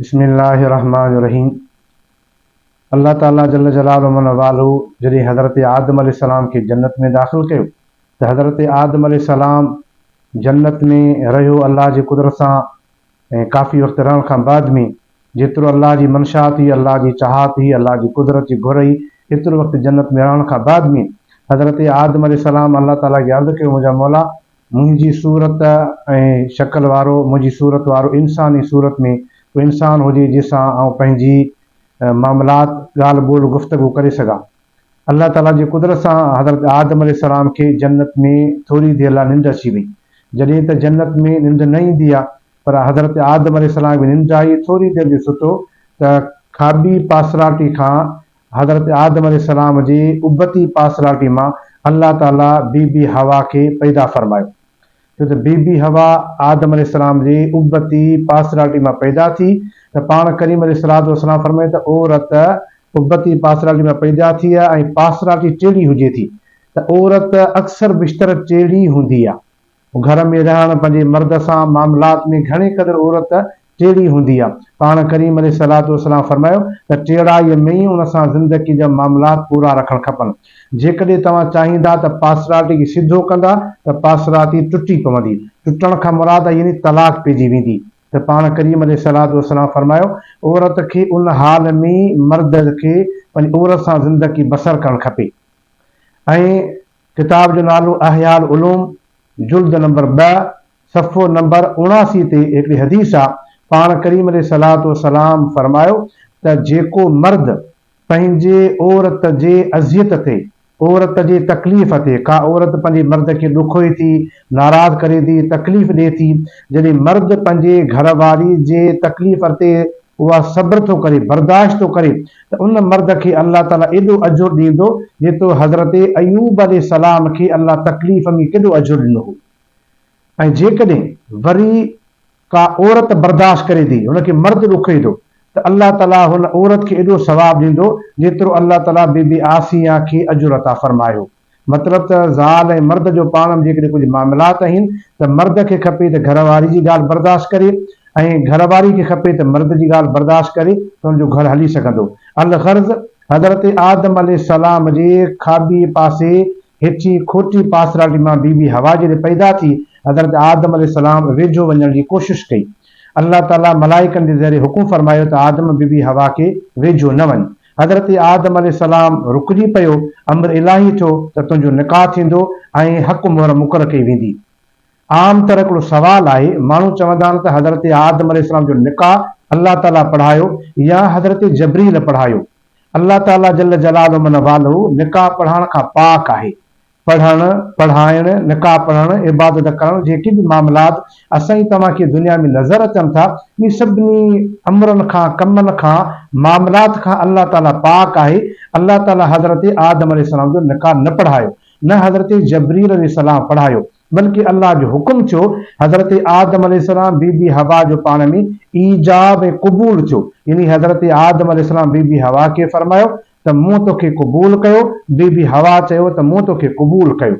بسم الله الرحمٰن الرحيم الله تعالي جل جلاله ومن والهه جڏهن حضرت آدم عليه السلام کي جنت ۾ داخل ڪيو ته حضرت آدم عليه السلام جنت ۾ رهيو الله جي قدرت سان ۽ ڪافي وقت رهڻ کان بعد ۾ جيترو الله جي منشات هئي الله جي چاهت هئي الله جي قدرت جي گهر هئي ايترو وقت جنت ۾ رهڻ کان بعد ۾ حضرت آدم عليه السلام الله تعالي کي عرض ڪيو منهنجا مولا منهنجي صورت ۽ شڪل وارو، منهنجي صورت وارو انسان ۽ صورت ۾ ڪو انسان هجي جنهن سان آئون پنهنجي معاملات، ڳالهه ٻولهه، گفتگو ڪري سگهان. الله تعاليٰ جي قدرت سان حضرت آدم عليه السلام کي جنت ۾ ٿوري دير لاء ننڊ اچي وئي. جڏهن ته جنت ۾ ننڊ نه ايندي آهي پر حضرت آدم عليه السلام کي ننڊ آئي، ٿوري دير جو ستو ته کاٻي پاسراٽي کان حضرت آدم عليه السلام جي ابتي پارسلارٽي مان الله تعالي بي بي حوا کي پيدا فرمايو ڇو ته بي بي حوا آدم عليه السلام جي ابتي پارسلارٽي مان پيدا ٿي ته پاڻ ڪريم عليه الصلوة والسلام فرمايو ته عورت ابتي پارسلارٽي مان پيدا ٿئي ۽ پارسلارٽي ٽيڙي هجي ٿي ته عورت اڪثر بشتر ٽيڙي هوندي آ. گهر ۾ رهڻ پنهنجي مرد سان معاملات ۾ گهڻي قدر عورت ٽيڙي هوندي آهي. پاڻ ڪريم عليه الصلوة والسلام فرمايو ته ٽيڙائيء ۾ ئي ان سان زندگي جا معاملات پورا رکڻ کپن. جيڪڏهن توهان چاهيندا ته پاسراتي کي سڌو ڪندا ته پاسراتي ٽٽي پوندي. ٽٽڻ کان مراد يعني طلاق پئجي ويندي. ته پاڻ ڪريم عليه الصلوة والسلام فرمايو عورت کي ان حال ۾ ئي مرد کي پنهنجي عورت سان زندگي بسر ڪرڻ کپي ۽ ڪتاب جو نالو احياء العلوم جلد نمبر ٻه صفحو نمبر اڻاسي تي هڪڙي حديث آ، پاڻ ڪريم عليه الصلوة والسلام فرمايو ته جيڪو مرد پنهنجي عورت جي اذيت تي، عورت جي تڪليف تي، ڪا عورت پنهنجي مرد کي ڏکوئي ٿي، ناراض ڪري ٿي، تڪليف ڏي ٿي، جڏهن مرد پنهنجي گهر واري جي تڪليف تي اها صبر ٿو ڪري، برداشت ٿو ڪري ته ان مرد کي الله تعاليٰ ايڏو اجر ڏيندو جيترو حضرت ايوب عليه السلام کي الله تڪليف ۾ ڪيڏو اجر ڏنو هو ۽ جيڪڏهن وري ڪا عورت برداشت ڪري ٿي، هن کي مرد ڏکوئي ٿو ته الله تعاليٰ هن عورت کي ايڏو ثواب ڏيندو جيترو الله تعاليٰ بي بي عاصيه کي اجر عطا فرمايو. مطلب ته زال ۽ مرد جو پاڻ ۾ جيڪڏهن ڪجهه معاملات اهين ته مرد کي کپي ته گهر واري جي ڳالهه برداشت ڪري ۽ گهر واري کي کپي ته مرد جي ڳالهه برداشت ڪري ته ان جو گهر هلي سگهندو. الغرض حضرت آدم عليه السلام جي کاٻي پاسي هيٺين کوٽي پاسرالي مان بي بي حوا جڏهن پيدا ٿي حضرت آدم عليه السلام ويجهو وڃڻ جي ڪوشش ڪئي الله تعالي ملائڪن جي ذريعي حڪم فرمايو ته آدم بي بي حوا کي ويجهو نه وڃ حضرت آدم عليه السلام رڪجي پيو، امر الاهي ٿيو ته تنهنجو نڪاح ٿيندو ۽ حق مهر مقرر ڪئي ويندي. عام طرح هڪڙو سوال آهي، ماڻهو چوندا آهن ته حضرت آدم عليه السلام جو نڪاح الله تعاليٰ پڙهايو يا حضرت جبريل پڙهايو. الله تعاليٰ جل جلاله من والهه نڪاح پڙهائڻ کان پاڪ آهي. پڙهڻ، پڙهائڻ، نڪاح پڙهڻ، عبادت ڪرڻ، جيڪي به معاملات اسان ۽ توهان کي دنيا ۾ نظر اچن ٿا، انهي سڀني امرن کان، ڪمن کان، معاملات کان الله تعاليٰ پاڪ آهي. الله تعاليٰ حضرت آدم عليه السلام جو نڪاح نه پڙهايو، نه حضرت جبريل عليه السلام پڙهايو، بلڪه الله جو حڪم ٿيو، حضرت آدم عليه السلام بي بي حوا جو پاڻ ۾ ايجاب ۽ قبول ٿيو، يعني حضرت آدم عليه السلام بي بي حوا کي فرمايو ته مون توکي قبول ڪيو، بي بي حوا چيو ته مون توکي قبول ڪيو.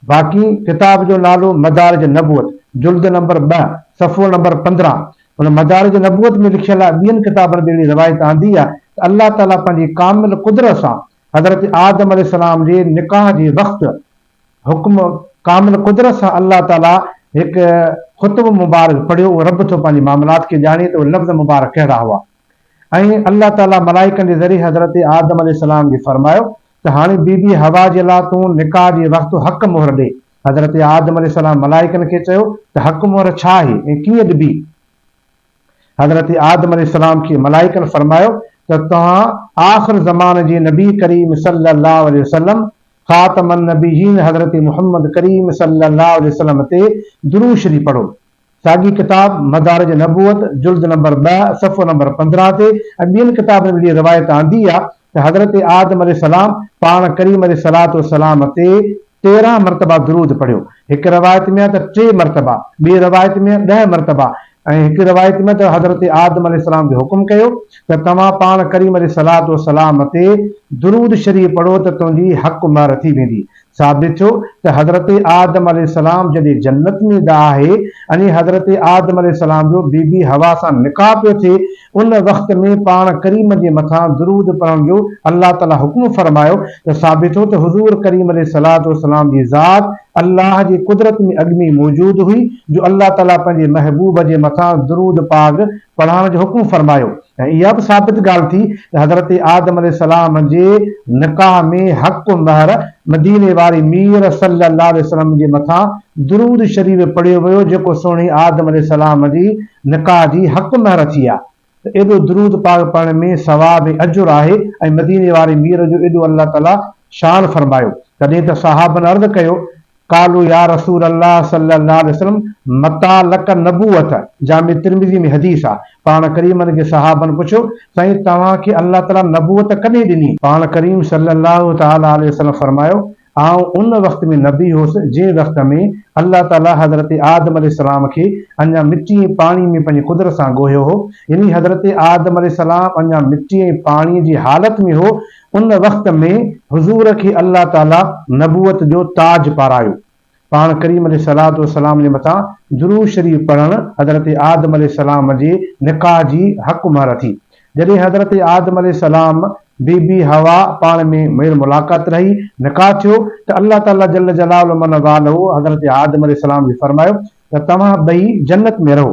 باقي ڪتاب جو نالو مدارج نبوت، جلد نمبر ٻه، صفحو نمبر پندرهن. هن مدارج نبوت ۾ لکيل آهي، ٻين ڪتابن ۾ اهڙي روايت آندي آهي ته الله تعاليٰ پنهنجي ڪامل قدرت سان حضرت آدم عليه السلام جي نڪاح جي وقت حڪم ڪامل قدرت سان الله تعاليٰ هڪ خطبو مبارڪ پڙهيو، اهو رب ٿو پنهنجي معاملات کي ڄاڻي ته اهي لفظ مبارڪ ڪهڙا هئا. ۽ الله تعالي ملائڪن جي ذريعي حضرت آدم عليه السلام کي فرمايو ته هاڻي بي بي حوا جي لا تون نڪاح جي وقت حق مهر ڏي. حضرت آدم عليه السلام ملائڪن کي چيو ته حق مهر ڇا آهي ۽ ڪيئن ڏبي؟ حضرت آدم عليه السلام کي ملائڪن فرمايو ته توهان آخر زمان جي نبي ڪريم صلي الله عليه وسلم، خاتم النبيين حضرت محمد ڪريم صلي الله عليه وسلم تي درود شريف پڙهو. ساڳي ڪتاب مدارج نبوت جلد نمبر ٻه صفحو نمبر پندرهن تي ۽ ٻين ڪتابن ۾ اهڙي روايت آندي آ ته حضرت آدم عليه السلام پاڻ ڪريم عليه الصلوة والسلام تي تيرهن مرتبه درود پڙهيو هڪ روايت ۾ آ ته ٽي مرتبه ٻي روايت ۾ ڏهه مرتبه ۽ هڪ روايت ۾ ته حضرت آدم عليه السلام کي حڪم ڪيو ته توهان پاڻ ڪريم عليه الصلوة والسلام تي درود شريف پڙهو ته تنهنجي حق مهر ٿي ويندي ثابت ٿيو ته حضرت آدم عليه السلام جڏهن جنت ۾ دا آهي ۽ حضرت آدم عليه السلام جو بي بي حوا سان نڪاح پيو ٿئي ان وقت ۾ پاڻ ڪريم جي مٿان درود پڙهڻ جو الله تعالي حڪم فرمايو ته ثابت ٿيو ته حضور ڪريم عليه الصلوة والسلام جي ذات الله جي قدرت ۾ اڳ ۾ ئي موجود هئي جو الله تعالي پنهنجي محبوب جي مٿان درود پاڪ پڙهڻ جو حڪم فرمايو ۽ اها به ثابت ڳالهه ٿي ته حضرت آدم عليه السلام جي نڪاح ۾ حق مهر مديني واري مير صلي الله عليه وسلم جي مٿان درود شريف پڙهيو ويو جيڪو سهڻي آدم عليه السلام جي نڪاح جي حق مهر ٿي آ ته ايڏو درود پاڪ پڙهڻ ۾ ثواب ۽ اجر آهي ۽ مديني واري مير جو ايڏو الله تعالي شان فرمايو تڏهن ته صحابن عرض ڪيو قالوا يا رسول الله صلي الله عليه وسلم متٰي لڪ النبوة جامع ترمذي ۾ حديث آ، پاڻ ڪريم عنه جي صحابن پڇيو، سائين توهان کي الله تعاليٰ نبوت ڪڏهن ڏني؟ پاڻ ڪريم صلي الله تعاليٰ عليه وسلم فرمايو، آئون ان وقت ۾ نبي هوس جنهن وقت ۾ الله تعاليٰ حضرت آدم عليه السلام کي اڃا مٽي ۽ پاڻي ۾ پنهنجي قدرت سان ڳوهيو هو يعني حضرت آدم عليه السلام اڃا مٽي ۽ پاڻي جي حالت ۾ هو ان وقت ۾ حضور کي الله تعالي نبوت جو تاج پارايو. پاڻ ڪريم عليه الصلواة والسلام جي مٿان درود شريف پڙهڻ حضرت آدم عليه السلام جي نڪاح جي حق مهر ٿي. جڏهن حضرت آدم عليه السلام بي بي حوا پاڻ ۾ ميل ملاقات رهي نڪاح ٿيو ته الله تعالي جل جلاله من والهه حضرت آدم عليه السلام کي فرمايو ته توهان ٻئي جنت ۾ رهو.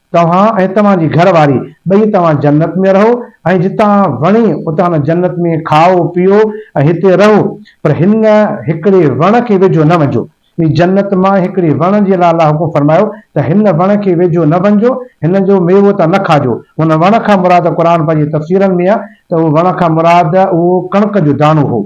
توهان ۽ توهان جي گهر واري ٻئي توهان جنت ۾ رهو ۽ جتان وڻي اتان جنت ۾ کائو پيئو ۽ هتي رهو پر هن هڪڙي وڻ کي ويجهو نه وڃجو هي جنت مان هڪڙي وڻ جي لاء الله حڪم فرمايو ته هن وڻ کي ويجهو نه وڃجو هن جو ميوو تان نه کاجو هن وڻ کان مراد قرآن پنهنجي تفسيرن ۾ آهي ته اهو وڻ کان مراد اهو ڪڻڪ جو داڻو هو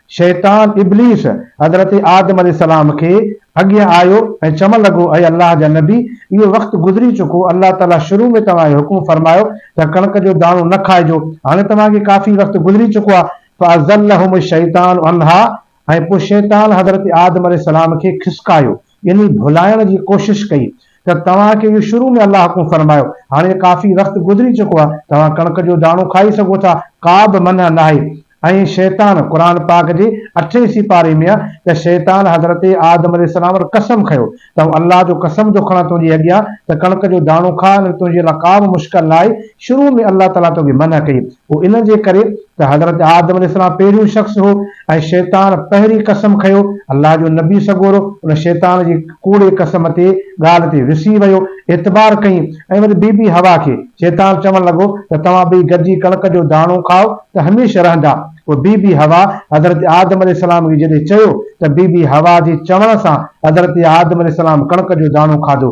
شيطان ابليس حضرت آدم عليه السلام کي اڳيان آيو ۽ چون لڳو اي الله جا نبي اهو وقت گذري چڪو الله تعالي شروع ۾ توهان کي حڪم فرمايو ته ڪڻڪ جو داڻو نه کائجو هاڻي توهان کي ڪافي وقت گذري چڪو آهي فازلهم الشيطان عنها ۽ پوء شيطان حضرت آدم عليه السلام کي کسڪايو يعني ڀلائڻ جي ڪوشش ڪئي ته توهان کي اهو شروع ۾ الله حڪم فرمايو، هاڻي ڪافي وقت گذري چڪو آهي، توهان ڪڻڪ جو داڻو کائي سگهو ٿا، ڪابه منع ناهي ۽ شيطان، قرآن پاڪ جي اٺين سيپاري ۾ آهي ته شيطان حضرت آدم عليه السلام وٽ قسم کيو ته آئون الله جو قسم ٿو کڻان تنهنجي اڳيان ته ڪڻڪ جو داڻو کاء ۽ تنهنجي لاء ڪابه مشڪل ناهي، شروع ۾ الله تعاليٰ توکي منع ڪئي، اهو ان جي ڪري ته حضرت آدم عليه السلام پهريون شخص هو ۽ شيطان پهرين قسم کنيو، الله جو نبي سڳورو ان شيطان جي ڪوڙي قسم تي، ڳالهه تي، رسي ويو، اعتبار ڪيئي ۽ وري بي بي حوا کي شيطان چوڻ لڳو ته توهان ٻئي گڏجي ڪڻڪ جو داڻو کائو ته هميشه رهندا، پوء بي بي حوا حضرت آدم عليه السلام کي جڏهن چيو ته بي بي حوا جي چوڻ سان حضرت آدم عليه السلام ڪڻڪ جو داڻو کاڌو.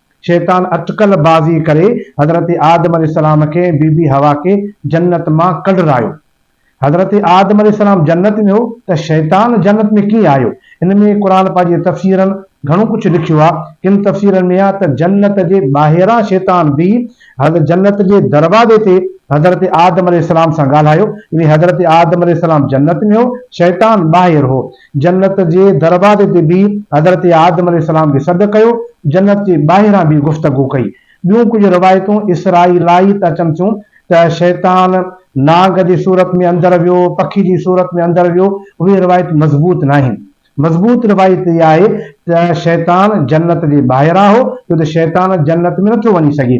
شيطان اٽڪل بازي ڪري حضرت آدم عليه السلام کي ۽ بي بي حوا کي جنت مان ڪڍرايو. حضرت آدم عليه السلام جنت ۾ هو ته شيطان جنت ۾ ڪيئن آيو؟ ان ۾ قرآن پاڪ جي تفسيرن گهڻو ڪجهه لکيو آهي. ڪن تفسيرن ۾ آهي ته جنت جي ٻاهران شيطان بيهي حضرت جنت جي دروازي تي حضرت آدم عليه السلام سان ڳالهايو. يعني حضرت آدم عليه السلام جنت ۾ هو، شيطان ٻاهر هو. جنت جي دروازي تي بيهي حضرت آدم عليه السلام کي سڏ ڪيو، جنت جي ٻاهران به گفتگو ڪئي. ٻيون ڪجهه روايتون اسرائيلائيت اچن ٿيون ته شيطان نانگ جي صورت ۾ اندر ويو، پکي جي صورت ۾ اندر ويو، اهي روايتون مضبوط ناهن. مضبوط روايت اها آهي ته شيطان جنت جي ٻاهران هو، ڇو ته شيطان جنت ۾ نٿو وڃي سگهي.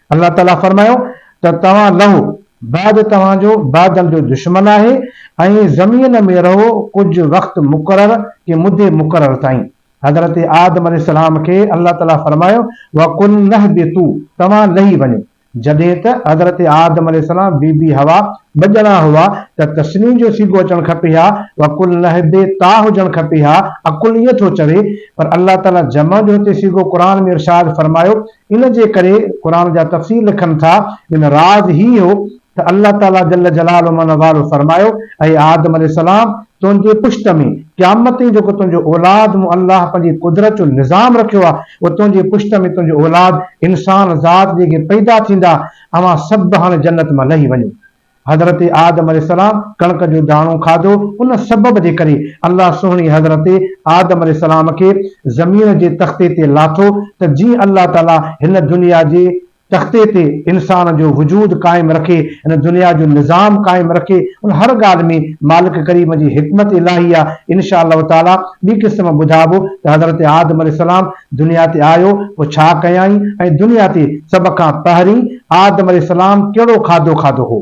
الله تعالي فرمايو ته توهان لهو، بعد توهان جو بادل جو دشمن آهي ۽ زمين ۾ رهو ڪجهه وقت مقرر ڪي مدي مقرر تائين. حضرت آدم عليه السلام کي الله تعالي فرمايو وقلنا اهبطو، توهان لهي وڃو. جڏهن ته حضرت آدم عليه السلام بي بي حوا ٻه ڄڻا هئا ته تثني جو صيغو اچڻ کپي ها وقلنا اهبطا هجڻ کپي ها عقل ائين ٿو چوي پر الله تعالي جمع جو هتي صيغو قرآن ۾ ارشاد فرمايو ان جي ڪري قرآن جا تفسير لکن ٿا ان راز هي هو ته الله تعالي جل جلاله من والو فرمايو اي آدم عليه السلام تنهنجي پشت ۾ قيامت تائين جيڪو تنهنجو اولاد مون الله پنهنجي قدرت جو نظام رکيو آهي اهو تنهنجي پشت ۾ تنهنجو اولاد انسان ذات جيڪي پيدا ٿيندا اوهان سڀ هاڻي جنت مان لهي وڃو. حضرت آدم عليه السلام ڪڻڪ جو داڻو کاڌو، ان سبب جي ڪري الله سهڻي حضرت آدم عليه السلام کي زمين جي تختي تي لاٿو ته جيئن الله تعالي هن دنيا جي تختي تي انسان جو وجود قائم رکي، هن دنيا جو نظام قائم رکي، ان هر ڳالهه ۾ مالڪ ڪريم جي حڪمت الاهي آهي، انشاء الله تعالي ٻي قسط مان ٻڌائبو ته حضرت آدم عليه السلام. دنيا تي آيو پوء ڇا ڪيائين ۽ دنيا تي سڀ کان پهرين آدم عليه السلام ڪهڙو کاڌو کاڌو هو؟